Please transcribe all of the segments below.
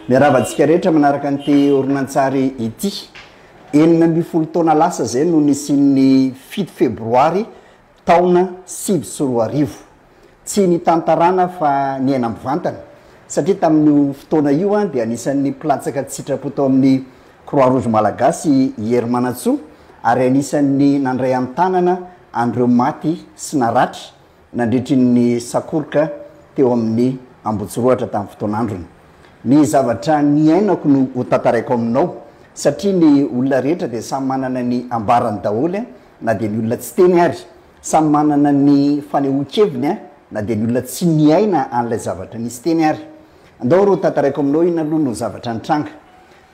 Miarahaba antsika rehetra manaraka an'ity horonantsary ity. Enina ambin'ny folo taona lasa izay no nisian'ny fito febroary taona sivy sy roa arivo. Tsy nitantarana fa niaina mivantana satria tamin'io fotoana io dia anisan'ny mpilatsaka tsy sitrapo tao amin'ny Croix Rouge Malagasy i Hery Manantsoa ary anisan'ny nandray an-tanana an'ireo maty sy naratra nandritry ny sakoroka teo amin'ny Ambohitsirohatra tamin'ny fotoan'androny. Ny zavatra niainako no ho tantaraiko aminao satria ny olona rehetra dia samy manana ny ambarany daholo na dia ny olona tsy teny ary, samy manana ny fanehoan-keviny na dia ny olona tsy niaina an'ilay zavatra nisy teny ary. Andao ary ho tantaraiko aminao inona aloha no zavatra nitranga.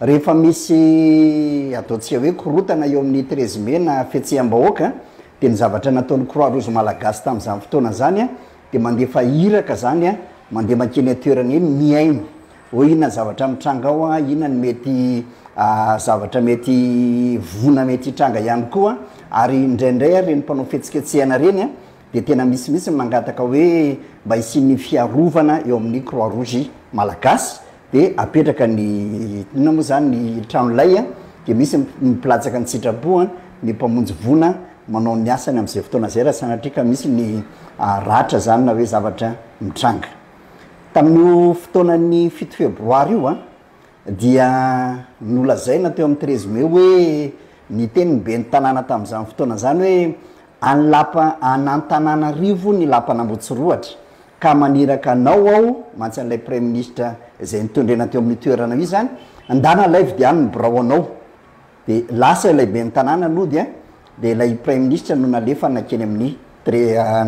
Rehefa misy ataontsika hoe korontana eo amin'ny treize mai na fihetseham-bahoaka dia ny zavatra nataon'ny Croix Rouge Malagasy tamin'izany fotoana izany dia mandefa iraka izany, mandeha mankeny an-toerana eny mihaino hoe inona zavatra mitranga ao, inona ny mety zavatra mety voina mety hitranga ihany koa ary indraindray ary ireny mpanao fihetsiketsehana ireny dia tena misimisy ny mangataka hoe mba hisian'ny fiarovana eo amin'ny Croix Rouge Malagasy. Dia apetraka ny, inona moa izany, ny trano lay an, dia misy ny mpilatsaka ny sitrapo an, ny mpamonjy voina manao ny asany amin'izay fotoana izay raha sanatria ka misy ny ratra izany na hoe zavatra mitranga. Tamin'io fotoanan'ny fito febroary io an, dia nolazaina teo amin'ny treize mai hoe, niteny ny ben'ny tanàna tamin'izany fotoana izany hoe, Any lapa any Antananarivo ny lapan'Ambotsirohatra ka maniraka anao aho mantsy an'ilay praiminisitra izay nitondrena teo amin'ny toeranao io izany ndana laivo dia any ny birao anao dia lasa ilay ben'ny tanàna nody an dia ilay praiminisitra no nalefa nankeny amin'ny dre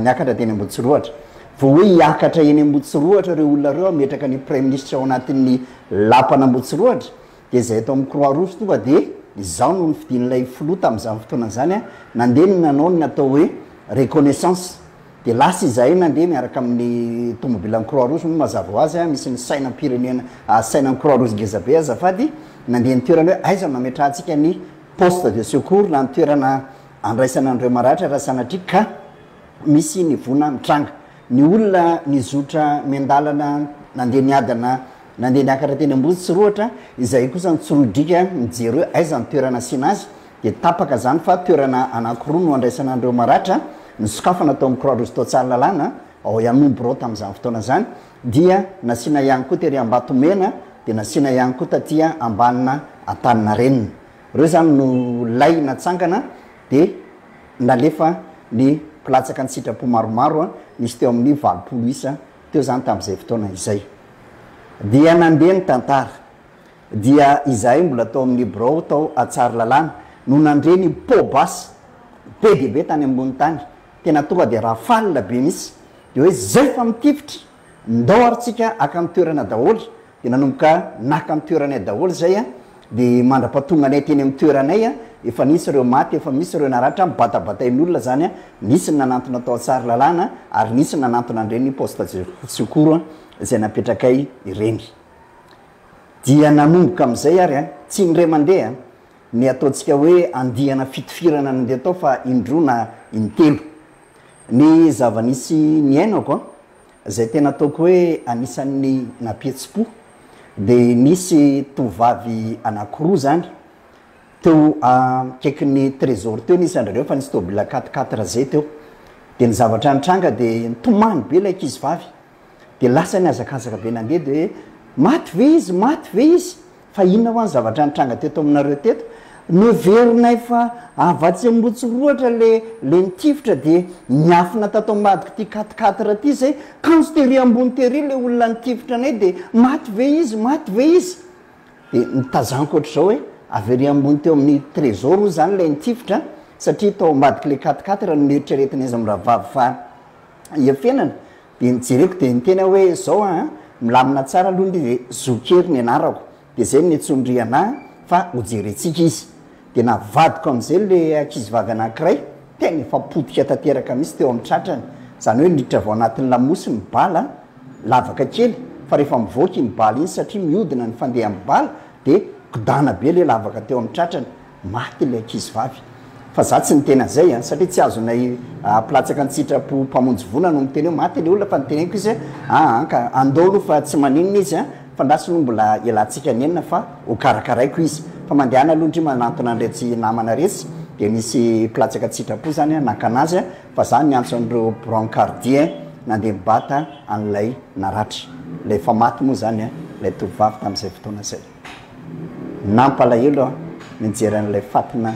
niakatra teny Ambotsirohatra vao hoe hiakatra eny Ambotsirohatra ireo olona ireo hametraka ny praiminisitra ao anatin'ny lapan'Ambotsirohatra Dia izay ato amin'ny croix rouge tonga dia izaho no nofidin'ilay filoha tamin'izany fotoana izany an, nandeha ny nanao ny natao hoe reconnaissance dia lasa izahay nandeha miaraka amin'ny tomobilan'ny croix rouge moa mazava ho azy an, misy ny sainam-pirenena a sainan'ny croix rouge ngeza be azafady, nandeha ny toerana hoe aiza no hametrahantsika ny poste de secours na ny toerana handraisana an'ireo maratra raha sanatria ka misy ny voina mitranga. Ny olona nizotra miandalana nandeha niadana nandeha niakatra teny Amboditsirohitra izay kosa nitsirodrika nijery hoe aiza ny toerana asiana azy dia tapaka izany fa toerana anankiroa no andraisana an'ireo maratra nosokafana tao amin'ny Croix Rouge tao Tsaralalàna ao ihany moa ny birao tamin'izany fotoana izany dia nasiana ihany koa tery Ambatomena dia nasiana ihany koa taty Ambanina Antaninarenina ireo izany no lay natsangana dia Nalefa ny mpilatsaka an-tsitrapo maromaro, nisy teo amin'ny valopolo isa teo izany tamin'izay fotoana izay. Dia nandeha ny tantara. Dia izahay mbola tao amin'ny birao tao Tsaralalàna no nandre ny pot basse be dia be tany ambony tany. Tena tonga dia rafale be mihitsy. Dia hoe izay fa mitifitra! Ndao ary tsika aka ny toerana daholo de nanomboka naka ny toeranay daholo zay a de mandrapatonganay teny amin'ny toeranay a efa nisy ireo maty efa misy ireo naratra mibatabatain'olona zany a nisy ny nanantona tao Tsarilalana ary nisy ny nanantona an'ireny poste de secours a zay napetrakay ireny dia nanomboka amin'izay ary a tsy indray mandeha ny ataontsika hoe andiana fitifirana nandeha tao fa indroa na intelo Ny zava-nisy niainako an, izay tena ataoko hoe anisan'ny nampihetsi-po, dia nisy tovovavy anankiroa izany, teo akaikin'ny trésor teo ny isan-dry zareo fa nisy tôbila quatre quatre zay teo, dia ny zavatra nitranga dia nitomany be ilay ankizivavy, Dia lasa nihazakazaka be nandeha dia hoe, Maty ve izy? Maty ve izy? Fa inona hoa ny zavatra nitranga teto aminareo teto? Noheverinay fa avy atsy Ambohitsorohatra le le nitifitra dia niafina tato ambadiko ty quatre quatre ty zay, kanjo tery ambony tery le olona nitifitra anay dia maty ve izy? Maty ve izy? Dia notazaniko ohatr'izao hoe, avy ery ambony teo amin'ny trésor hoy zany ilay nitifitra satria tao ambadik'ilay quatre quatre no neritreretinay izy mirahavavy fa hiafenana dia nijereko dia niteny aho hoe zao an, milamina tsara aloha ny hoe Zokihery ny anarako dia zay no niantsoan'ry ana fa hojerentsika izy. Dia navadiko amin'izay ilay ankizivavy anankiray, tena efa potika tanteraka mihitsy teo amin'ny tratrany, izany hoe niditra avy ao anatin'ny lamosy ny bala, lavaka kely fa rehefa mivoaka iny bala iny satria mihodina ny fandehan'ny bala dia kodana be ilay lavaka teo amin'ny tratrany, Maty ilay ankizivavy. Fa za tsy niteny an'izay an, satria tsy azonay ampilatsaka an-tsitrapo mpamonjy vola no miteny hoe maty ilay olona fa niteneniko izy hoe aa an ka andao aloha fa tsy maninona izy an, fa andraso aloha mbola hialantsika nenina fa ho karakaraiko izy. Fa mandehana aloha ndry manantona an'iretsy namana retsy dia nisy mpilatsaka an-tsitrapo zany an naka anazy an, fa za niantso an'ireo brancardier an nandeha nibata an'ilay naratra. Ilay efa maty moa zany an ilay tovovavy tamin'izay fotoana izay. Nampalahelo aho nijery an'ilay fatina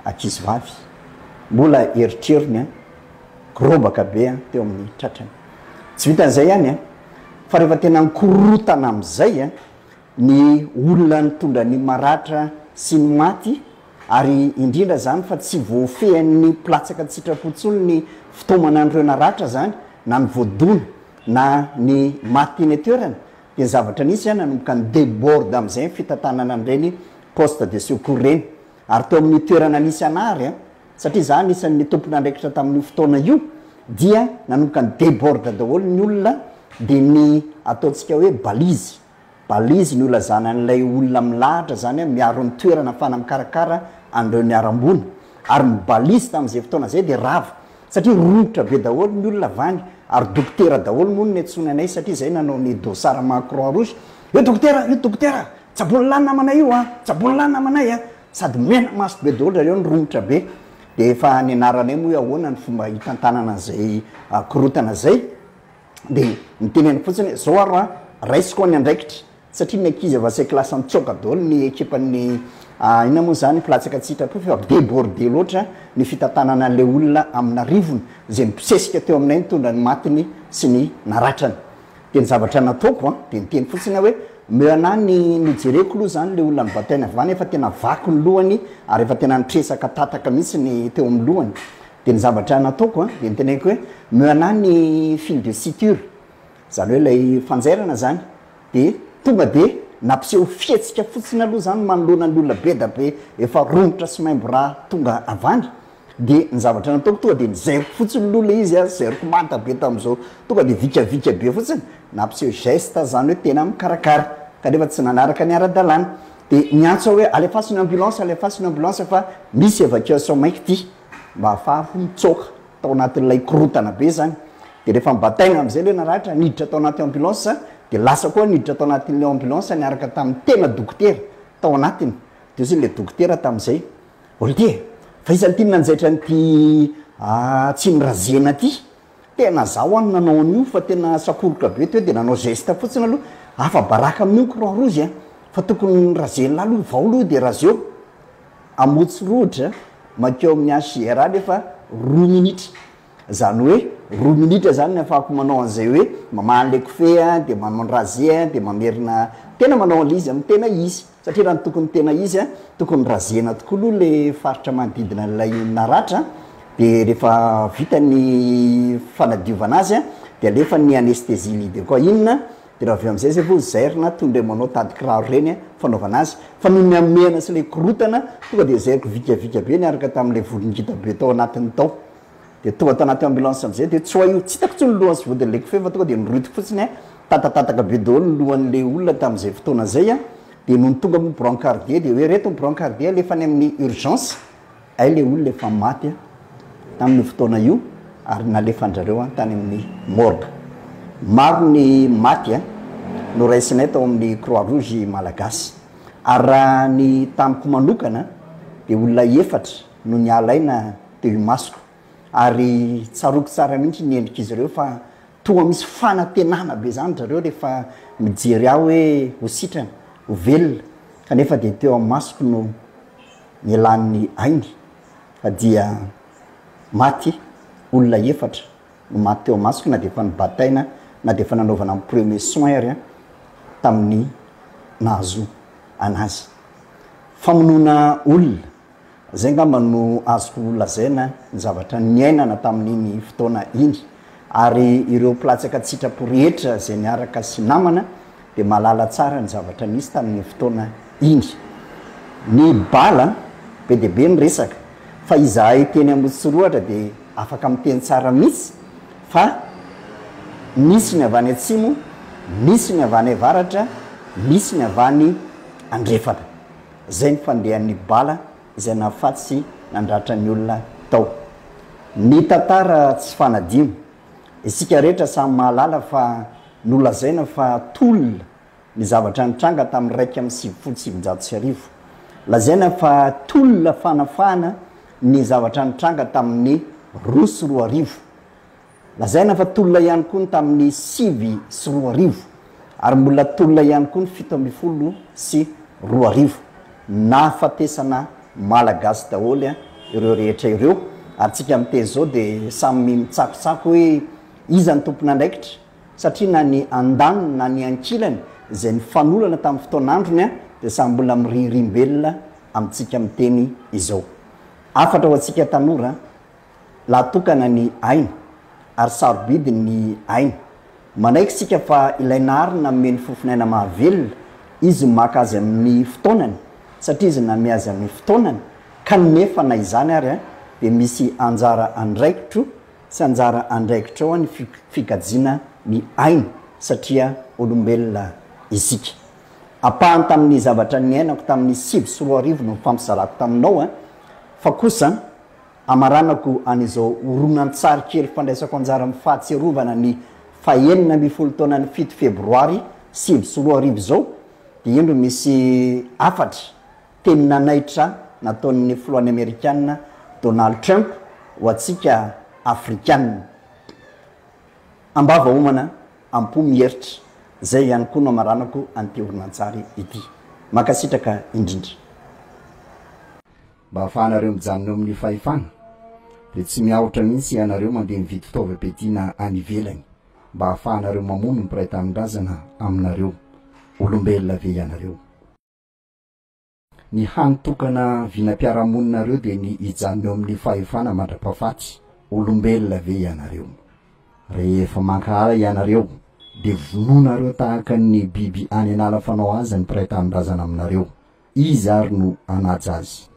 ankizivavy. Mbola erotrerony an! Gorobaka be an teo amin'ny tratrany. Tsy vitan'izay ihany an! Fa rehefa tena nikorotana amin'izay an, ny olona nitondra ny maratra sy ny maty ary indrindra izany fa tsy voafehin'ny mpilatsaka an-tsitrapo intsony ny fitaomana an'ireo naratra izany na ny voadona na ny maty teny an-toerana Dia zavatra nisy izay nanomboka ni-deborde amin'izay ny fitantanana an'ireny poste de secours ireny. Ary teo amin'io toerana nisy anà ary, satria izaho anisan'ny tompon'andraikitra tamin'io fotoana io, dia nanomboka ni-deborde daholo ny olona, dia ny ataontsika hoe balise, balise nolazana an'ilay olona milahatra izany miaro ny toerana ahafahana mikarakara an'ireo niharam-boina. Ary ny balise tamin'izay fotoana izay dia rava, satria romotra be daholo ny olona avy any ary dokotera daholo moa no niantsoany anay satria zay nanao ny dossard maha croix rouge io dokotera io dokotera tsabony lahy namanay io a tsabony lahy namanay a sady mena maso be daholo zareo ny romotra be dia efa nianaranay moa hoe ahoana ny fomba hitantanana an'izay korontana zay de mitenena fotsiny hoe zao aro a, raisiko ny andraikitra satria ny ankizy avy asekoly lasa nitsoaka daholo ny ekipan'ny inona moa zany mpilatsaka tsy hitrako fa deborde loatra ny fitantanana an'ilay olona amin'arivony zay nibosesika teo aminay nitondra ny matiny sy ny naratrany de ny zavatra nataoko a de niteny fotsiny aho hoe meo anah ny nojereko loha zany le olona ny batainy avy any efa tena vaky ny lohany ary efa tena nitresaka tataka mihitsy ny teo amin'ny lohany Dia ny zavatra nataoko an, dia niteneniko hoe meo anah ny fil de suture, izany hoe ilay fanjairana izany, dia tonga dia nampiseho fihetsika fotsiny aloha izany manoloana ny olona be da be efa romotra sy maimbo ra tonga avy any, dia ny zavatra nataoko tonga dia nizairiko fotsiny aloha ilay izy an, zairiko manta be tamin'izao, tonga dia vikavika be fotsiny, nampiseho geste aho izany hoe tena mikarakara, kanefa tsy nanaraka ny ara-dalàna, dia niantso aho hoe alefaso ny ambulance, alefaso ny ambulance fa misy evacuation maika ity. mba hahafahako mitsoaka tao anatin'ilay korontana be zany de rehefa nibataina amizay le naratra niditra tao anaty ambulance de lasa koa niditra tao anatin'ilay ambulance niaraka tamin'ny tena dokotera tao anatiny de hozy le dokotera tamin'izay olitier fa iza no tiany nanjaitra an'ity Tsimirazena ty Tena zaho an nanao an'io fa tena sakoroka be teo de nanao geste fotsiny aloha afa baraka amin'io ny croix rouge a! fa tokony razen'lah aloha vao aloha de razeo! Amotsy rohotra mankeo amin'ny HJR anefa roa minitra zany hoe roa minitra zany ny afahako manao an'izay hoe mamaha an'le kofehy a de manao ny rase a de mamerina tena manao an'le izy amin'ny tena izy. Satria raha ny tokony tena izy a, tokony razena tokoa aloha le faritra manodidina an'ilay naratra a, dia rehefa vita ny fanadiovana azy a, dia alefa ny anesthésie lide koa inona, dia raha avy eo amin'izay zay vao zairina toy indray manao tady kiraro ireny a, fanaovana azy, fa noho ny hamehana sy ilay korotana, tonga dia zairiko vikavika be niaraka tamin'ilay volon-gita be tao anatiny tao. Dia tonga tanaty ambulance amizay dia tsy ho hay tsy hitako tsony ny lohany sy vodiny le kofehy fa tonga dia niroitiko fotsiny a, tatatataka be daholo ny lohan'le olona tamin'izay fotoana zay a, dia nony tonga moa brancardier dia hoe reto ny brancardier alefa any amin'ny urgence, hay le olona efa maty a, tamin'io fotoana io ary nalefan'zareo an tany amin'ny morgue. Maro ny maty a, noraisinay tao amin'ny croix rouge malagasy, ary raha ny tamiko manokana dia olona efatra, no nialaina teo imasoko ary tsaroako tsara mihitsy ny endrik'izy ireo fa toa misy fanantenana be izany ry zareo rehefa mijery ahy hoe ho sitrana, ho velona kanefa dia teo amin'ny masoko no nielan'ny ainy fa dia maty, olona efatra no maty teo imasoko na dia efa nobataina na dia efa nanaovana ny premier soin ary an tamin'ny nahazo an'azy. Famonoana olona. Izay angamba no azoko lazaina ny zavatra niainana tamin'iny fotoana iny. Ary ireo mpilatsaka an-tsitrapo rehetra izay niaraka sy namana dia mahalala tsara ny zavatra nisy tamin'iny fotoana iny. Ny bala, be dia be ny resaka, fa izahay teny Ambositsorohatra dia afaka miteny tsara mihitsy fa nisy ny avy any atsimo, nisy ny avy any avaratra, nisy ny avy any andrefana. Zay ny fandehan'ny bala izay nahafaty sy nandratra ny olona tao. Ny tantara tsy fanadino. Isika rehetra samy mahalala fa nolazaina fa tolona ny zavatra nitranga tamin'ny iraika amby sivifolo sy sivinjato sy arivo. Lazaina fa tolona fanafahana ny zavatra nitranga tamin'ny roa sy roa arivo. Lazaina fa tolona ihany koa ny tamin'ny sivy sy roa arivo ary mbola tolona ihany koa ny fito ambin'ny folo sy roa arivo. Nahafatesana Malagasy daholo ireo rehetra ireo ary tsika miteny izao dia samy mitsakotsako hoe iza no tompon'andraikitra satria na ny andaniny na ny ankilany izay nifanolana tamin'ny fotoan'androny dia samy mbola mirihirimbelona amintsika miteny izao. Hafatra ho antsika tanora Lahatokana ny aina, ary sarobidy ny aina. Manaiky isika fa ilay Nahary nanome ny fofon'aina mahavelona, Izy maka azy amin'ny fotoanany, satria Izy nanome azy amin'ny fotoanany, kanefa na izany ary dia misy anjara andraikitro sy anjara andraikitra ao ny fikajiana ny aina, satria olombelona isika. Ampahany tamin'ny zavatra niainako tamin'ny sivy sy roa arivo no nifampizarako taminao, fa kosa, Hamaranako an'izao horonantsary kely fandraisako anjara amin'ny fahatsiarovana ny fahenina ambin'ny folo taonan'ny fito febroary sivy sy roa arivo izao dia indro misy hafatra teny nanaitra nataon'ny filohan'ny amerikana Donald Trump ho antsika afrikana am-bava homana am-po mieritra izay ihany koa no hamaranako an'ity horonantsary ity. Mankasitraka indrindra. Mba hahafahanareo mijanona eo amin'ny fahefana dia tsy miahotra mihitsy ianareo mandeha mividy fitaovam-piadiana any ivelany mba hahafahanareo mamono ny mpiray tanindrazana aminareo. Olombelona ve ianareo? Ny hany tokana vinam-piarahamoninareo dia ny hijanona eo amin'ny fahefana mandra-pahafaty. Olombelona ve ianareo? Rehefa mankahala ianareo dia vonoinareo tahaka ny biby any an'ala fanao azy ny mpiray tanindrazana aminareo. Iza ary no hanaja azy?